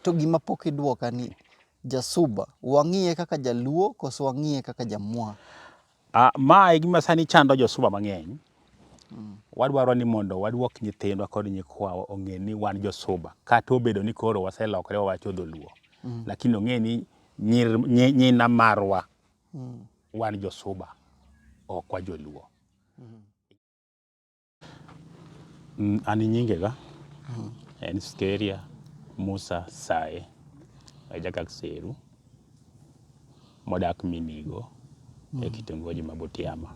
To gima pok idwoka ni jasuba wang'iye kaka jaluo koso wang'iye kaka jamwa? Ah, ma e gima sani chando josuba mang'eny. Mm. Wadwaro ni mondo wadwok nyithindwa kod nyikwawa ong'e ni wan josuba kata obedo ni koro waselokore wawacho dholuo. Mm. Lakini ong'e ni nyir, nyi, nyina marwa mm. wan josuba ok wa joluo. Mm. Mm, An nyinge ga en Skeria Musa Sae ajakak Seru modak Minigo e kitongoji ma Butiama.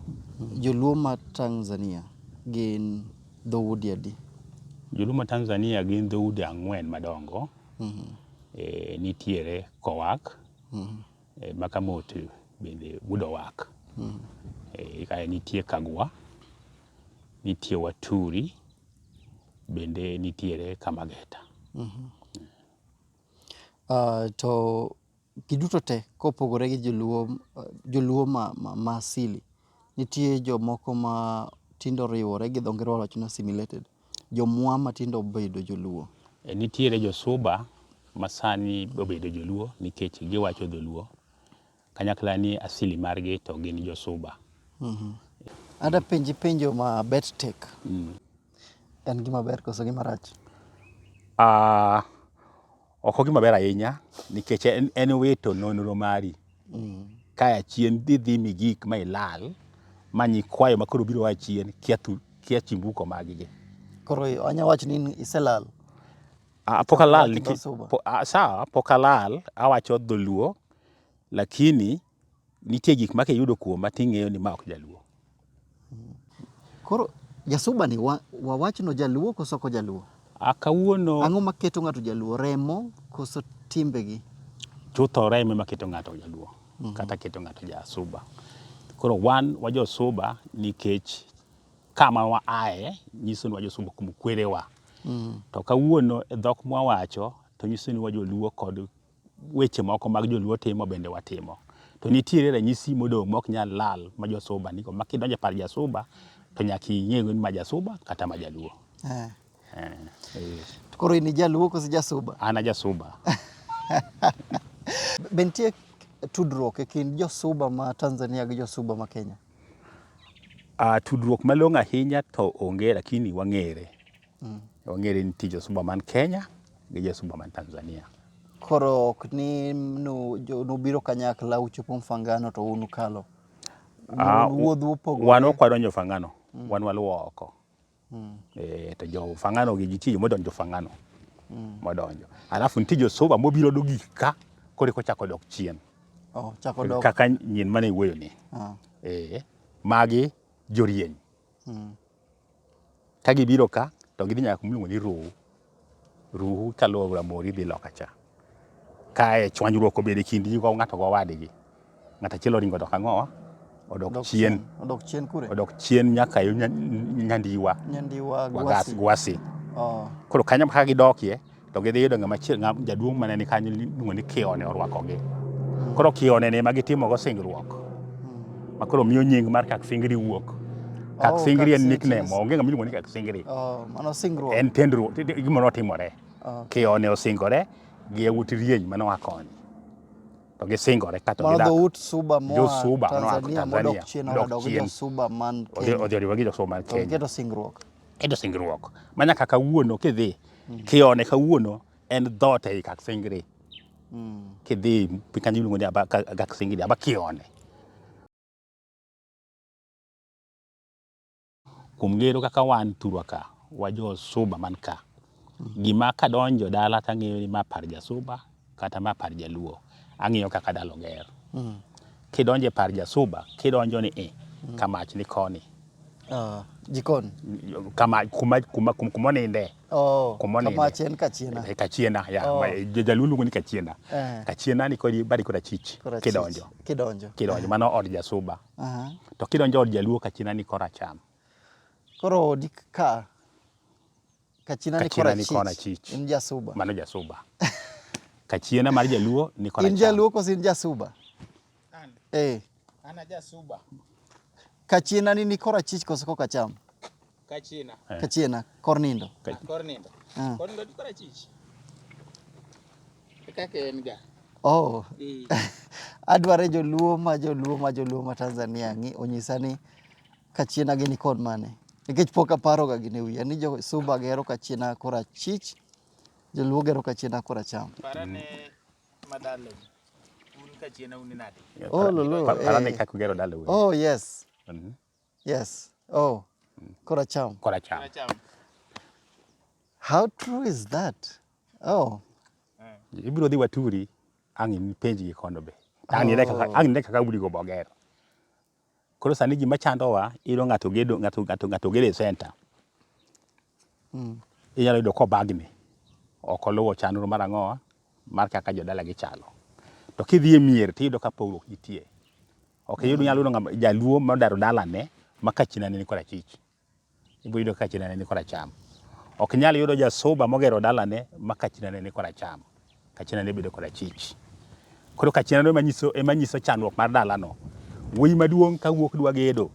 Joluo ma Tanzania gin dhoudi adi? Joluo ma Tanzania gin dhoudi ang'wen madongo. E, nitiere Kowak, E, Makamote bende gudo wak. Mm. E, kae nitie Kagwa, nitie Waturi, bende nitiere Kamageta. Mm -hmm. Uh, to giduto te kopogore gi joluo, uh, joluo ma, ma, ma asili Nitie jomoko ma tinde oriwore gi dho ngere wawacho ni assimilated. Jomwa ma tinde obedo joluo. Nitiere josuba ma sani obedo joluo nikech giwacho dholuo. Kanyakla ni asili margi to gin josuba. Ada penji penjo ma bet tek. En gima ber koso gima rach? Ok ogima ber ahinya nikech en, en wito nonro mari mm. kaya chien dhi dhi mi gik ma ilal ma nyikwayo ma koro biro a chien kia, tu, kia chimbuko maggi. Koro anya wacho ni iselal. Ah, pok alal. Po, ah, sawa, pok alal. Awacho dholuo lakini nitie gik ma kiyudo kuoma ting'eyo ni ma ok jaluo. Koro jasuba ni wa, wawachno jaluo koso ko jaluo? A kawuono Ang'o maketo ng'ato jaluo? Remo koso timbegi? chutho remo ema keto ng'ato jaluo kata keto ng'ato jasuba. Koro wan wa josuba nikech kama wa aye nyiso ni wa josuba kuom kwerewa. To kawuono e dhok mwawacho to nyiso ni wa joluo kod weche moko mag joluo timo bende watimo. To nitiere ranyisi modong' mok nyal lal ma josuba nigo ma kidonjo e par jasuba to nyaka ing'e ni ma jasuba kata ma jaluo. Eh. Eh, eh. To Koro in ijaluo koso jasuba? An ajasuba. Be nitie tudruok e kind josuba ma Tanzania gi josuba ma Kenya? Ah, tudruok malong'o ahinya to onge lakini wang'ere. Mm. Wang'ere ni tij osumba man Kenya gi josumba man Tanzania. Koro ok ni nu, jo, nubiro kanyakla uchopo mfangano to un ukalo. Ah, Un wuodhu Wan opogore. ok wadonjo Fangano, wan waluwo oko. Eh, to jo Fangano gi nitie joma odonjo Fangano. Modonjo. Alafu nitie josumba mobiro dogik ka koro eka ochako dok chien. Oh, chako dok. Kaka nyin mane iwuoyo ni. Ah. Eh, magi jorieny. Mm. Ka gibiro ka to gidhi nyaka kuma iluongo ni Ruhu. Ruhu kaluwo aora Mori dhi loka cha. Kae chwanyruok obedo e kind ji ng'ato gi owadgi. Ng'ato achiel oringo odok ang'owa, odok chien. Odok chien kure? Odok chien nyaka yo nyandiwa. Nyandiwa Gwasi. Gwasi. Oh. Koro kanyo kaka gidokie, To gidhi yudo ng'ama chiel ng'ama jaduong' mane ni kanyo iluongo ni Kione orwakogi. Koro Kione ne ma gitimogo singruok. Ma koro miyo nying mar Kak Singiri wuok. Kak Oh, Singiri en Kak Singiri. nickname, onge ng'ama iluongo ni Kak Singiri. Oh, mano singruok. En tendruok, ti- ti- gimoro otimore. Oh. Kione osingore gi yawuot Rieny mane oa koni. To gisingore ka to Mano gidak. dhout Suba moa Jo-Suba mane oa Tanzania modok Tanzania, chien modok odok gi chien. jo-Suba man Odhi Kenya. odhi oriwo gi jo-Suba man To Kenya. giketo singruok. Keto singruok ma nyaka kawuono kidhi mm. kione kawuono en dhoot ei kak singri mm. kidhi piny kanyo iluongo ni kak singri aba kione kuom ngero kaka wan thurwa ka wajo suba man ka Gima kadonjo dala to ang'eyo ni ma par jasuba kata ma par jaluo. Ang'iyo kaka dala oger. Kidonjo e par jasuba, kidonjo ni i, kamach ni koni. Ah, jikon. Kama, kuma, kuma, kuma, kuma oninde. Oh, Kuma oninde. kamach en kachiena. E kachiena, ya. Oh. ma- e, jo- Jaluo luongo ni kachiena. Eh. Kachiena ni kodi badi kod achich. Korachich. Kidonjo. Kidonjo. Kidonjo. Mano od jasuba. Aha. To kidonjo od jaluo kachiena ni koracham. Koro odi ka Kachina ni Kachina ni Korachich. Korachich. In jasuba. Mano jasuba. Kachiena mar jaluo ni kora In jaluo koso in jasuba? An. Eh. Ana jasuba. Kachiena ni ni Korachich koso koka cham? Kachina. Eh. Kachiena kor nindo. Ka- Ah, Kor nindo. Ah. Kor nindo ni korachich. Kaka en ga. Oh. Eh. Adware joluo ma joluo ma joluo ma Tanzania ng'i onyisa ni Kachiena gini kod mane? Nikech pok aparoga gini wiya ni jo Suba gero kachiena kora chich, joluo gero kachiena kora cham. Parane madalo. Un kachiena un nade? Oh, lolo. Pa- Parane eh. kaka ugero dala wuon. Oh, yes. Mhm. Yes. Oh, kora cham. Kora cham. Cham. How true is that? Oh, Ibiro dhi waturi ang' ipenjgi kono be. Ang' ine kaka ang' ine kaka udi go bogero. Koro sani gima chandowa, iyudo ng'ato gedo, ng'ato, ng'ato, ng'ato gedo e center. Mm. Inyalo yudo kobagni. Ok oluwo chandro mar ang'owa, mar kaka jodala gichalo. To kidhi e mier to iyudo ka pogruok nitie. Ok iyud, inyalo yudo ng'ama- jaluo modaro dalane ma kachinane ni korachich. Iboyudo ka chinane ni koracham. Ok nyal yudo jasoba mogero dalane ma ka chinane ni koracham, ka chinane bedo korachich. Koro ka chinano ema nyiso, ema nyiso chandruok mar dalano. Wuoyi maduong' ka wuok dwa gedo,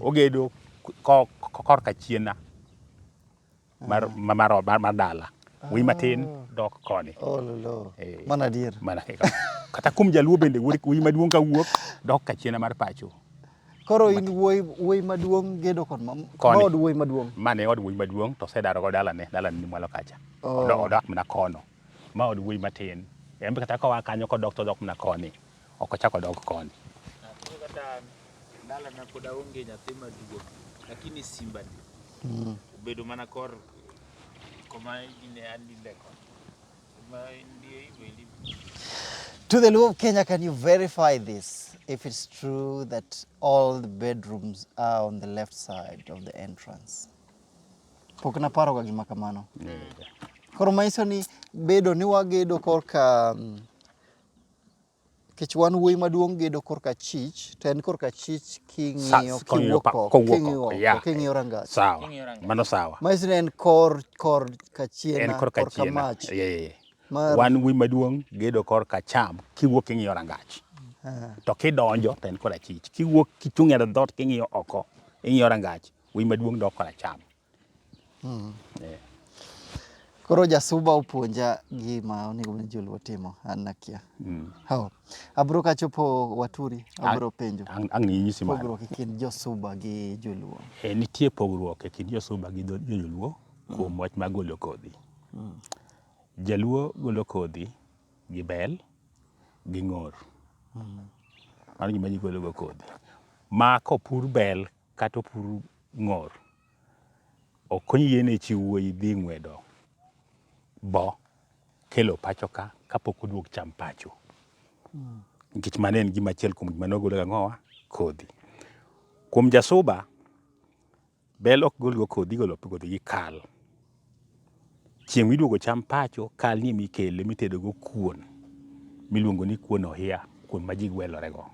ogedo ko- ko- korka chiena. mar, ma- mar, ot, mar, mar dala wiyi matin dok koni ololo Eh. mana adier mana kaka kata kuom jaluo bende wuod- wiyi maduong' ka wuok dok kachiena mar pacho koro in wuoyi wuoyi maduong' gedo kod mam- Koni. maod wuoyi maduong' mane od wuoyi maduong' to osedarogo dalane dalane ni mwalo kacha Oh. Odo- odak mana kono ma od wuoyi matin en be kata koa kanyo kodok to odok mana koni ok ochak odog koni. Dalana pod aonge nyathi maduong' lakini simba ni mm. obedo mana kor koma ine andinde koni To the Luo of Kenya, can you verify this? If it's true that all the bedrooms are on the left side of the entrance. Pok naparo ga gima kamano. Koro maiso ni bedo ni wagedo korka mm, Nikech wan wuoyi maduong' gedo korka chich, to en korka chich king'iyo Sa- kong'iyo kiwuok pa- oko, kowuok king'iyo oko, oko, yeah. king'iyo rangach. Sawa. King'iyo rangach. Mano sawa. Maisi ne en kor kor kachien En korka korka chiena. mach. Yeah, yeah, yeah. Mar- Wan wuoyi maduong' gedo korka cham kiwuok king'iyo rangach. Ah, to kidonjo to en korachich kiwuok kichung' e dhoot king'iyo oko ing'iyo rangach wuoyi maduong' dok koracham Hmm. Yeah. Koro jasuba opuonja gima onego bed joluo timo an nakia. Mm. How? Abro kachopo waturi, abro penjo. Ang' ang' ninyisi mano. Pogruok e kind josuba gi joluo. E, nitie pogruok e kind josuba gi dho- joluo kuom wach mar golo kodhi. Jaluo golo kodhi gi bel gi ng'or. Mano gima ji gologo kodhi. Ma kopur bel kata opur ng'or. Ok oyiene chi wuoyi dhi ng'wedo bo kelo pacho ka kapok oduog cham pacho. Nikech mano en gima achiel kuom gima nogol ga ng'owa kodhi. Kuom jasuba, bel ok gol go kodhi, igolo kodhi gi kal. Chieng' miduogo cham pacho kal ni emikele mitedo go kuon miluongo ni kuon ohia, kuon ma ji gwelore go.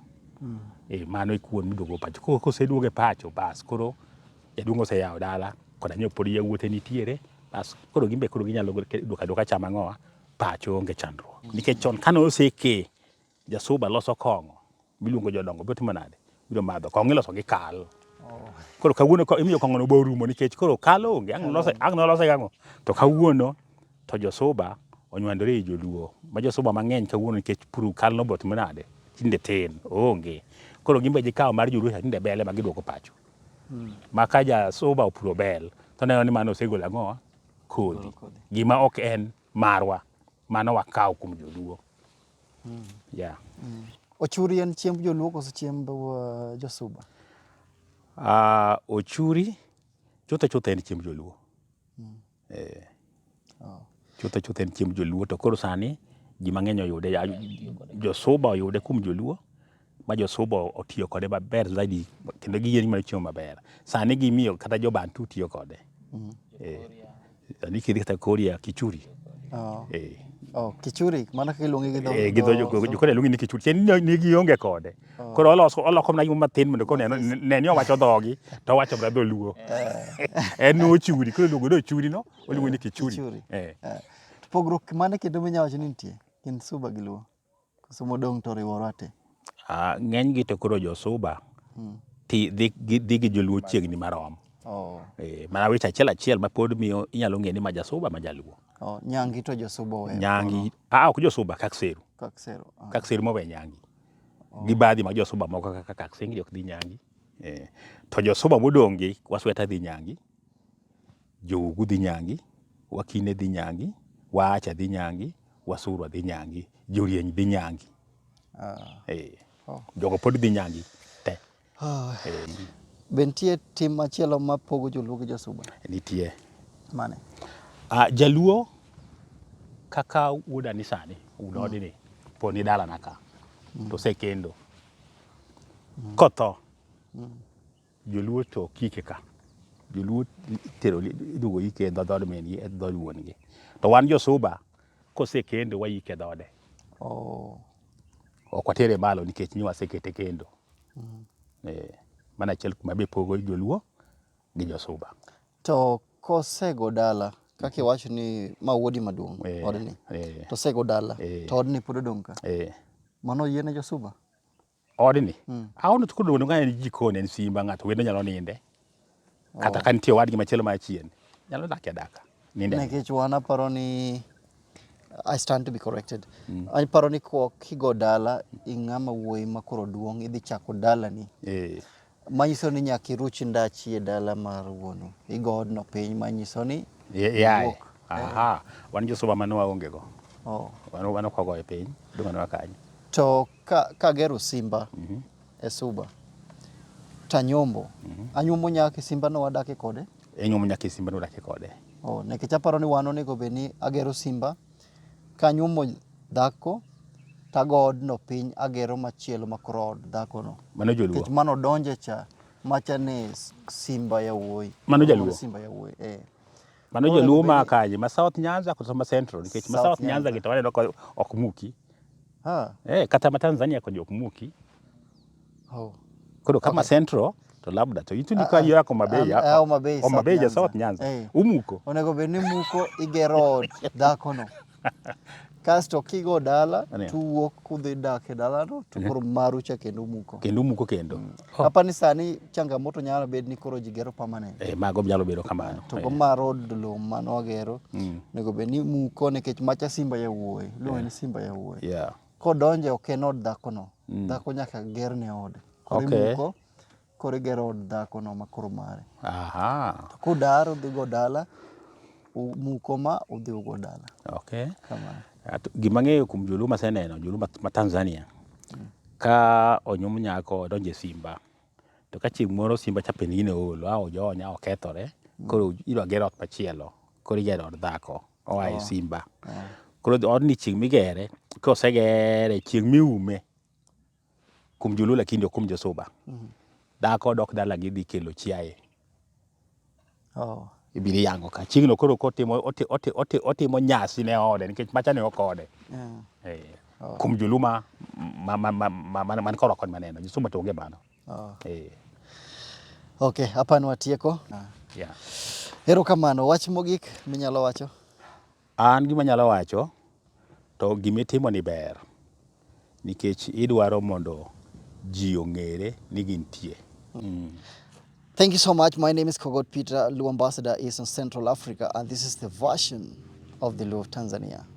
Mm. E, mano e kuon miduogo pacho. Koro koseduoge pacho bas koro jaduong' oseyawo dala koda nyo pod yawuote nitiere bas koro gimbe koro ginyalo duoka duoka cham ang'owa pacho onge chandruok. Nikech chon kane oseke Jasuba loso kong'o miluongo jodongo, biro timo nade? Biro madho kong'o iloso gi kal. Oh. Koro kawuono imiyo kong'ono bo rumo nikech koro kal onge, ang' nolose gang'o. To kawuono to josuba onywandore e joluo, ma josuba mang'eny kawuono nikech puru kal nobo timo nade? Tinde tin, onge. Koro gimbe gikawo mar joluo cha tinde bele ma giduoko pacho. Hmm. Ma ka jasuba opuro bel, to neno ni mano osegolo ang'owa kodhi. Gima ok en marwa, mano wakawo kuom joluo. Mm. Yeah. Mm. Ochuri en chiemb joluo koso chiemb uh, josuba? Uh, ochuri chutho chutho en chiemb joluo. Mm. Eh. Oh. Chutho chutho en chiemb joluo to koro sani ji mang'eny oyude josuba oyude kuom joluo. ma josuba otiyo kode maber zaidi kendo giyie ni mano chiemo maber. Sani gimiyo kata jo Bantu tiyo kode. Mm. Eh, sani kidhi kata Korea, Kichuri. Oh. Eh. Oh, kichuri mana kaka iluonge gi dho eh, gi dho jokore luonge ni kichuri chen ni gi onge kode oh. koro oloso oloko mana yuma tin mondo kone ne ni owacho dhogi to owacho bra dholuo eh. en no churi koro luongo do churi no oluongo ni kichuri eh. eh. pogruok mane kendo minya wacho ni nitie kind suba gi luo Koso modong' to oriworwa te. Ah, ng'eny gi to koro josuba hmm. ti dhi dhi gi joluo chiegni marom oh. e, mana weche achiel achiel ma pod miyo inyalo ng'e ni ma jasuba ma jaluo oh. nyangi to josuba owe nyangi ah, ok josuba kakseru kakseru ah. kakseru mowe nyangi oh. gi badhi ma josuba moko kaka kaksengi ok dhi nyangi e, to josuba modong'gi wasweta dhi nyangi Jougu dhi nyangi, Wakine dhi nyangi, Waacha dhi nyangi, Wasurwa dhi nyangi, Jorieny dhi nyangi. Eh, Jogo pod dhi nyangi te. Eh, Be nitie tim machielo ma pogo joluo gi josuba? nitie. Mane? Ah, Jaluo kaka wuoda ni sani, wuod odi ni, po ni dalana ka, to osekendo. Kotho, Joluo to ok ike ka. Joluo itero iduogo ike e dhood min gi e dhood wuon gi. To wan josuba kosekendo waike dhode. Oh. Ok watere malo nikech ni wasekete kendo. Mm. Eh, mana achiel kuma be pogo joluo gi josuba. To kosego dala kaka iwacho ni ma wuodi maduong' eh, odni eh. to osego dala eh. to odni pod odong' ka. Eh. Mano yiene josuba? Odni, mm. aono to kodong' ka en jikon en simba ng'ato wendo nyalo ninde. Oh. Kata ka nitie wadgi machielo ma chien, nyalo dak ya daka. Ninde. Nekech wan aparo ni I stand to be corrected. Mm. Aparo ni kigo dala ing'ama wuoyi ma koro duong' idhi chako dalani. Eh. Manyiso ni nyaka iruch ndachi e dala mar wuonu. Igo odno piny manyiso ni Y- yaye iwuok. aha wan josuba mano waonge go Oh. wan wan ok wagoye piny dong' anwa kanyo To ka kagero simba e suba tanyombo. Anyombo nyaka e simbano wadake kode. enyuomo nyaka e simba nodake kode Oh, nikech aparo ni wan onego bed ni agero simba Kanyuomo dhako tago odno piny agero machielo makoro od dhakono. Mano joluo. Nikech mano donje cha macha ni Simba Yawuoyi. Mano jaluo. Simba Yawuoyi. Eh. Mano jaluo ma kaje ma South Nyanza kata ma Central nikech ma South Nyanza gi to waneno ok muki. Ha. Eh kata ma Tanzania konyo ok muki. Oh. Koro kama okay. Central to labda to itu ni kwa hiyo yako mabei yako. Au mabei. Au mabei ya South Nyanza. Hey. Eh. Umuko. Onego beni muko igero dhako no. Kasto kigo dala tuwuok kudhi dak e dalano to koro maru cha kendo muko. Kendo muko kendo. Mm. Oh. Apa ni sani changamoto nyalo bed ni koro jigero permanent. Eh, mago nyalo bedo kamano. To go eh. ma road lo mano agero. Mm. Nego bed ni muko nikech macha simba ya wuoyi. Luwe ni eh. simba ya wuoyi. Yeah. Kodonje ok en od dhakono. Mm. Dhako nyaka gerne ode. Koro okay. imuko, koro igero od dhakono ma koro mare. Aha. To kodar odhigo dala, muko ma udhi ugo dala. Okay. Kamano. Gima ng'eyo kuom joluo maseneno, joluo ma Tanzania, mm. ka onyum nyako odonjo e simba, to ka chieng' moro simba cha penigine olo, a ojonya, okethore, mm. koro idwa ger ot machielo, koro igero od dhako. oa e simba. Koro odni chieng' migere, kosegere chieng' miume kuom joluo lakini ok kuom josuba. Dhako dok dalagi dhi kelo chiaye. Ibiro iyango ka. Chieng'no koro kotimo otimo nyasi ne ode nikech macha ne ok ode. Kuom joluo man korwa koni maneno. Josuba to onge mano. Oh. Hey. Eh. Ok, hapa ni watieko. Ah. Yeah. Ero kamano, wach mogik minyalo wacho? An gima nyalo wacho to gima itimo ni ber nikech idwaro mondo ji ong'ere ni gintie. Mm. mm. Thank you so much. My name is Kogot Peter, Luo Ambassador, Eastern Central Africa, and this is the version of the Luo of Tanzania.